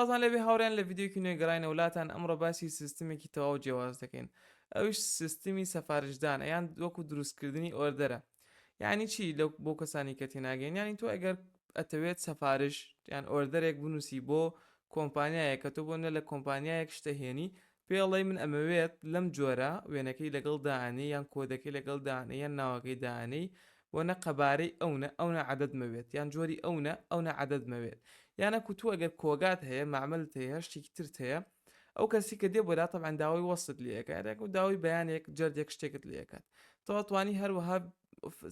وازان لێبێ هاوڕێیان لە ڤیدیۆکی نوێ گەڕاینەوە لاتان ئەمڕۆ باسی سیستمێکی تەواو جیاواز دەکەین ئەوش سیستمی سەفارشدانە یان وەکو دروستکردنی ئۆردەرە یعنی چی لە بۆ کەسانی کە تێناگەین ینی تۆ ئەگەر ئەتەوێت سەفارش یان ئۆردەرێک بنووسی بۆ کۆمپانیایە کە تۆ بۆ نە لە کۆمپانیایەک شتەهێنی پێڵێی من ئەمەوێت لەم جۆرە، وێنەکەی لەگەڵ دائەنێی یان کۆدەکەی لەگەڵ دائەنێی یان ناوەکەی دائەنێی و نە قەبارەی ئەونە ئەونە عەدەد مەوێت یان جۆری ئەونە ئەونە عەدەد مەوێت یان ئەکو تۆ ئەگەر کۆگات هەیە مەعمەلت هەیە هەر شتێکی ترت هەیە ئەو کەسی کە دێ بۆ لا تەبعەن داوای وەسفت لێ ئەکات یاکو داوای بەیانێک جەردێک شتێکت لێ ئەکات تۆ ئەتوانی هەروەها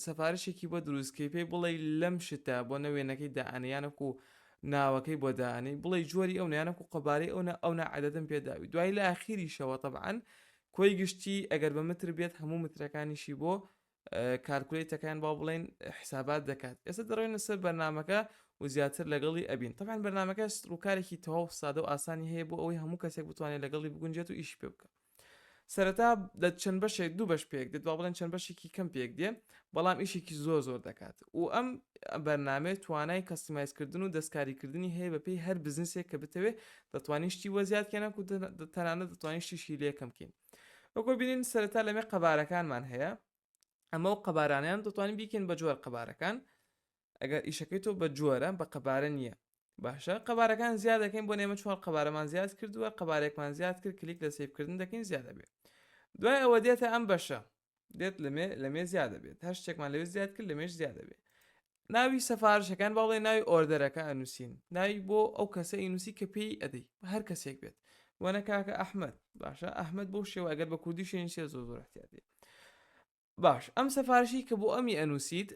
سفارشێکی بۆ دروستکەی پێی بڵێ لەم شتە بۆ نە وێنەکەی دائەنیانەک و ناوەکەی بۆ دانی بڵێ جۆری ئەو نیانەک و قەبارەی ئەوە ئەو نەعادەتم پێداوی دوای لە ئاخیریشەوە طبعاان کۆی گشتی ئەگەر بە متر بێت هەموو مترەکانیشی بۆ کارکولەیتەکان با بڵێن حسابات دەکات ئێستا دەڕێنە سەر بەرنمەکە و زیاتر لەگەڵی ئەبین طبعاان بەرنمەکە ڕووکارێکی تەواو سادە و ئاسانی هەیە بۆ ئەوەی هەموو کەسێک بتوانێت لەگەڵی بگونجێت و ئیش پێ بکە سەرەتا لە چەند بەشێک دوو بەش پێک دێت با بڵێن چەند بەشێکی کەم پێک دێ بەڵام ئیشێکی زۆر زۆر دەکات و ئەم بەرنمەیە توانای کەسیمایزکردن و دەستکاریکردنی هەیە بەپی هەر بزنسێک کە بتەوێ دەتوانیشتی وەزیاد کێنە و تەنانە دەتوانیشتیشی لەکەم بکەین وەکۆ بینین سەرەتا لەمێ قەبارەکانمان هەیە ئەمە و قەبارانیان دەتوانین بیکەین بە جۆر قەبارەکان ئەگەر ئیشەکەی تۆ بە جۆرە بە قەبارە نییە باشە قەبارەکان زیاد دەکەین بۆ نێمە چوار قەبارەمان زیاد کردووە قەبارێکمان زیاد کرد کلیک لە سیفکردن دەکەین زیادە بێت دوای ئەوە دێتە ئەم بەشە دێت لەمێ لەمێ زیادە بێت هەر شتێکمان لەوێ زیاد کرد لەمێش زیادە بێت ناوی سەفارشەکان باڵێ ناوی ئۆردەرەکە ئەنووسین ناوی بۆ ئەو کەسە ئینوسی کە پێی ئەدەی هەر کەسێک بێت وەنە کاکە ئەحمد باشە ئەحمد بۆ شێوە ئەگەر بە کوردی شوێنی سێ زۆ زۆر احتیاتی باش ئەم سەفارشی کە بۆ ئەمی ئەنووسیت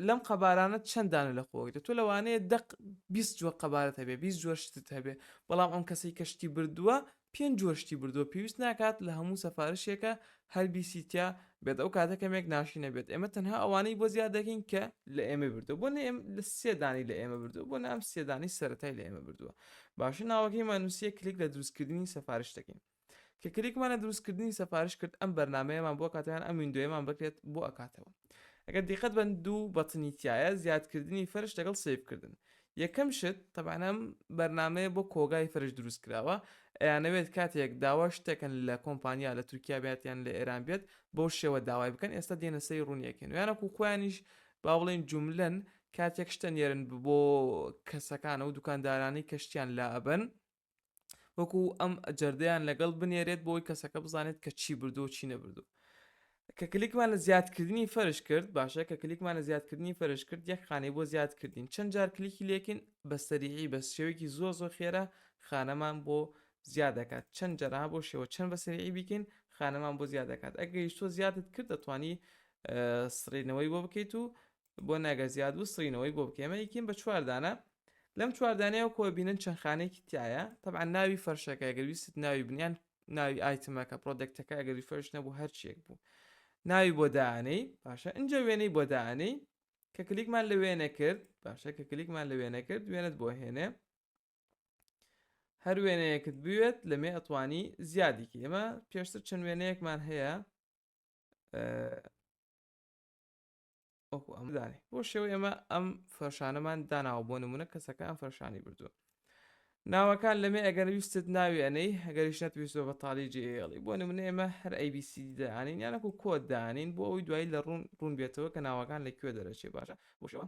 لەم قەبارانە چەند دانە لە خۆگرێت تۆ لەوانەیە دەق بیست جووە قەبارەت هەبێ بیست جووە شتت هەبێ بەڵام ئەم کەسەی کە شتی بردووە پێنج جووە شتی بردووە پێویست ناکات لە هەموو سەفارشێکە هەر بیسیتیا بێت ئەو کاتە کەمێک ناشی نەبێت ئێمە تەنها ئەوانەی بۆ زیاد دەکەین کە لە ئێمە بردو بۆ نە لە سێدانی لە ئێمە بردو بۆ نام سێدانی سەتای لە ئێمە بردووە باشە ناوەکەی مانوسیە کلیک لە دروستکردنی سەفارش دەکەین کە کلیکمان لە دروستکردنی سەفارش کرد ئەم بەرنمەیەمان بۆ کاتیان ئەم وینندۆیەمان بکرێت بۆ ئەکاتەوە ئەگەر دیقەت بەن دوو بەتنی تایە زیادکردنی فەرش لەگەڵ سیفکردن یەکەم شت تەبانەم بەرنمەیە بۆ کۆگای فەرش دروست کراوە ئەیانەوێت کاتێک داوا شتێکن لە کۆمپانیا لە تورکیا باتیان لە ئێران بێت بۆ شێوە داوای بکەن ئێستا دێنە سەی ڕوونیەکەن ویانەکو خۆیانیش با بڵێن جوملەن کاتێک شتە نێرن بۆ کەسەکانە و دوکاندارانی کەشتیان لا ئەبن وەکو ئەم جەردەیان لەگەڵ بنێرێت بۆی کەسەکە بزانێت کە چی بردو چی نەبردو کە کلیکمان لە زیادکردنی فەرش کرد باشە کە کلیکمان لە زیادکردنی فەرش کرد یەک خانەی بۆ زیاد کردین چەند جار کلیکی لێکن بە سەریعی بە شێوەیەکی زۆر زۆر خێرا خانەمان بۆ زیاد دەکات چەند جەرا بۆ شێوە چەند بە سەریعی بیکەین خانەمان بۆ زیاد دەکات ئەگەیش تۆ زیادت کرد دەتوانی سڕینەوەی بۆ بکەیت و بۆ ناگە زیاد بوو سڕینەوەی بۆ بکە ئێمە یەکین بە چوار دانە لەم چوار دانەیەوە کۆ بینن چەند خانێکی تایە تەبعا ناوی فەرشەکە گەر ویست ناوی بنیان ناوی ئایتمەکە پرۆدەکتەکە گەری فەرش نەبوو هەرچیەک بوو ناوی بۆ دانەی باشە ئەجا وێنەی بۆ دانەی کە کلیکمان لە وێنە کرد باشە کە کلیکمان لە وێنە کرد وێنت بۆ هێنێ هەر وێنەیەکت بوێت لەمێ ئەتوانی زیادیکی ئێمە پێشتر چەند وێنەیەکمان هەیە وەکو ئەم دانێ بۆ شێوە ئێمە ئەم فەرشانەمان داناوە بۆ نمونە کەسەکە ئەم فەرشانی بردووە ناوەکان لەمێ ئەگەر ویستت ناوی ئەەی هەگەریش نەتویستەوە بە تاالی جێڵی بۆ نمونە ئێمە هەر ئەیبیسی دانین یانەکو کۆت دانین بۆ ئەوی دوایی لە ڕوون ڕوون بێتەوە کە ناوەکان لە کوێ دەرەچێ باشە بۆشەوە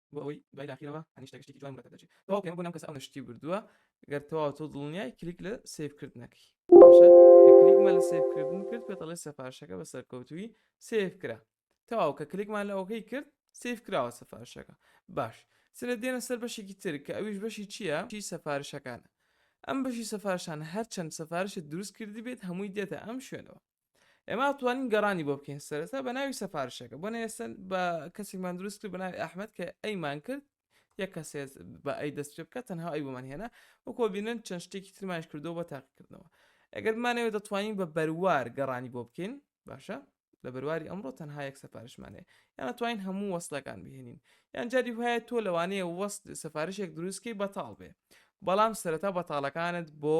بۆ ئەوەی دوای داخیرەوە هەنی شتەکە شتێکی جوان بەدەردەچێت تەواو پێم بۆ نەم کەس ئەو نەشتی بردووە گەر تەواو تۆ دڵنیای کلیک لە سیف کردنەکەی باشە کە کلیکمان لە سیف کردن کرد پێ دەڵێ سەفارشەکە بە سەرکەوتوی سیف کرا تەواو کە کلیکمان لە ئەوکەی کرد سیف کراوە سەفارشەکە باش سرە دێنە سەر بەشێکی تر کە ئەویش بەشی چییە چی سەفارشەکانە ئەم بەشی سەفارشان هەرچەند سەفارشت دروست کردی بێت هەمووی دێتە ئەم شوێنەوە ئێمە توانین گەڕانی بۆ بکەین سەرەتا بە ناوی سەفارشەکە بۆ نێسن بە کەسێکمان دروست کرد بە ناوی ئەحمد کە ئەیمان کرد یە کەسێ بە ئەی دەست پێ بکە تەنها ئەی بۆمان هێنا وەکۆ بینن چەند شتێکی ترمانش کردو بە تاقیکردنەوە ئەگەر مانەوە دەتوانین بە بەروار گەڕانی بۆ بکەین باشە لە بەرواری ئەمڕۆ تەنها یەک سەفارشمانێ یان توانین هەموو وەستەکان بهێنین یان جاری وایە تۆ لەوانەیە وەست سەفارشێک دروستکەی بەتاڵ بێ بەڵام سەرەتا بەتاڵەکانت بۆ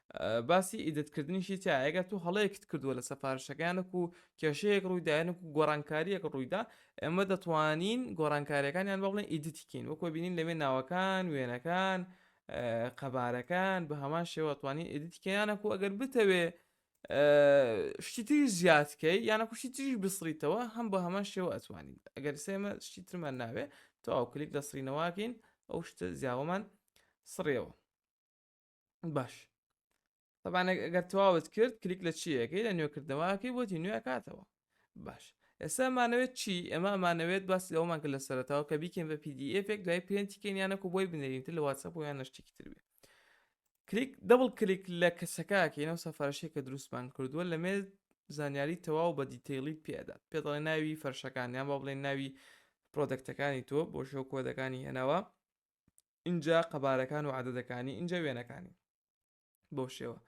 باسی ئیدت کردنیشی تیا ئەگەر تو هەڵەیەکت کردووە لە سەفارشەکانێک و کێشەیەک ڕوویداەنک و گۆڕانکاریەک ڕوویدا ئێمە دەتوانین گۆڕانکاریەکانیان بە بڵێن ئیدتیکەین وەکۆ بینین لەوێ ناوەکان وێنەکان قەبارەکان بە هەمان شێوەتوانین ئیدتیکەیانەکو ئەگەر بتەوێ شتی تری زیادکەی یانە کوشتی تریش بسڕیتەوە هەم بە هەمان شێوە ئەتوانین ئەگەر سێمە شتی ترمان ناوێ تەواو کلیک لە سرینەواکەین ئەو شتە زیاوەمان سڕێەوە باش تەبانە گەر تەواوت کرد کلیک لە چیەکەی لە نوێکردنەوەکەی بۆتی نوێکاتەوە باش ئێستا مانەوێت چی ئەمە مانەوێت باس لەوەمان کە لە سەرتاوە کە بیکەین بە پDFێک دوای پرێنتیکەین یانەکو بۆی بنێرین تر لە واتسەپ و یان نشتێکی تر بێ کلیک دەبڵ کلیک لە کەسەکەکەینەوە سەفارشێک کە دروستمان کردووە لە مێز زانیاری تەواو بە دیتەیڵی پێدات پێ دەڵێ ناوی فەرشەکان یان با بڵێن ناوی پرۆدەکتەکانی تۆ بۆ شەو کۆدەکانی هێناوە ئینجا قەبارەکان و عادەتەکانی ئینجا وێنەکانی بۆ شێوە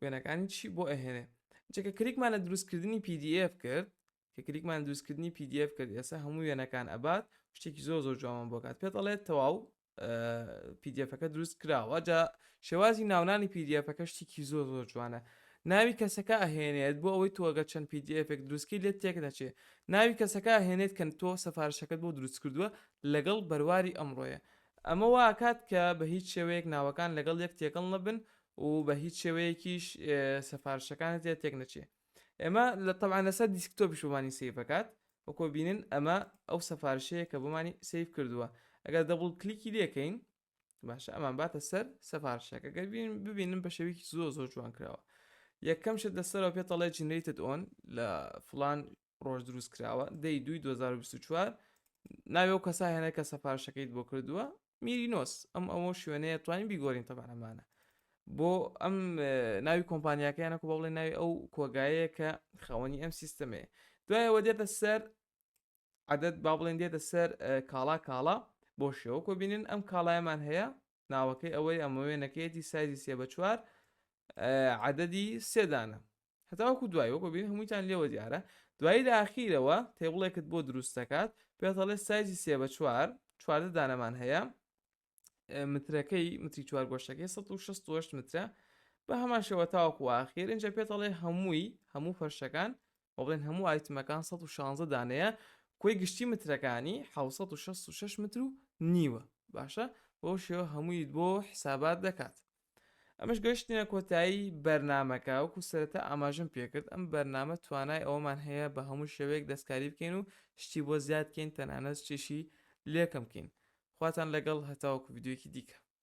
وێنەکانی چی بۆ ئەهێنێ جەکە کریکمان لە دروستکردنی PDF کرد کە کریکمان دروستکردنی PDF کرد ئێستا هەموو وێنەکان ئەبات شتێکی زۆر زۆر جوان بۆکات پێ دەڵێت تەواو پیدفەکە دروست کراوە جا شێوازی ناونانی پیدفەکە شتێکی زۆر زۆر جوانە ناوی کەسەکە ئەهێنێت بۆ ئەوەی تۆگە چەند پیدفێک دروستکی لێت تێک نەچێ ناوی کەسەکە هێنێت کەن تۆ سەفارشەکەت بۆ دروست کردووە لەگەڵ بەرواری ئەمڕۆیە. ئەمە وا ئەکات کە بە هیچ شێوەیەک ناوەکان لەگەڵ یەک تێکەڵ نەبن و بە هیچ شێوەیەکیش سەفارشەکانت لێ تێک نەچێ. ئێمە لە تەبعەن لەسەر دیسکتۆپیش بۆمانی سەیڤ ئەکات. وەکۆ بینن ئەمە ئەو سەفارشەیە کە بۆمانی سەیڤ کردووە. ئەگەر دەبڵ کلیکی لێ کەین باشە ئەمان باتە سەر سەفارشەکە. گەر بین ببینن بە شێوەیەکی زۆر زۆر جوان کراوە. یەکەم شت لەسەرەوە پێت ئەڵێ جنرەیتد ئۆن لە فڵان ڕۆژ دروست کراوە دەی دوی 2024 ناوێ و کەسا هێنە کە سەفارشەکەیت بۆ کردووە میرینۆس ئەم ئەوە شوێنەیە توانین بیگۆرین تەبانەمانە بۆ ئەم ناوی کۆمپانیاکەیانەکو بە بڵێ ناوی ئەو کۆگایەیە کە خاوەنی ئەم سیستەمەیە دوایەوە دێتە سەر عادەت با بڵێن دێتە سەر کاڵا کاڵا بۆ شێوە کۆبینن ئەم کاڵایەمان هەیە ناوەکەی ئەوەی ئەمە وێنەکەیەتی سایزی سێ بە چوار عددی سێدانە هەتاوەکو دوای وەکو بین هەموویان لێوە دیارە دوایی لە ئاخیرەوە تێبڵێکت بۆ دروست دەکات پێتەڵێ سایزی سێ بە چوار چواردە دانەمان هەیە مترەکەی متری چوار گۆشتەکەی 16 مترە بە هەمان شێوە تاوەکو ئاخیر اینجا پێتەڵێ هەمووی هەموو فەرشەکان و بڵێن هەموو ئایتمەکان 116 دانەیە کۆی گشتی مترەکانی 666 متر و نیوە باشە بۆ شێوە هەمووی بۆ حسابات دەکات ئەمەش گەشتنە کۆتایی بەرنمەکە وەکو سرەتا ئاماژم پێکرد ئەم بەرنمە توانای ئەوەمان هەیە بە هەموو شێوەیەک دەستکاری بکەین و شتی بۆ زیادکەین تەنانەت شتیشی لێکەمکەین خواتان لەگەڵ هەتاوەکو یددیوکی دیکە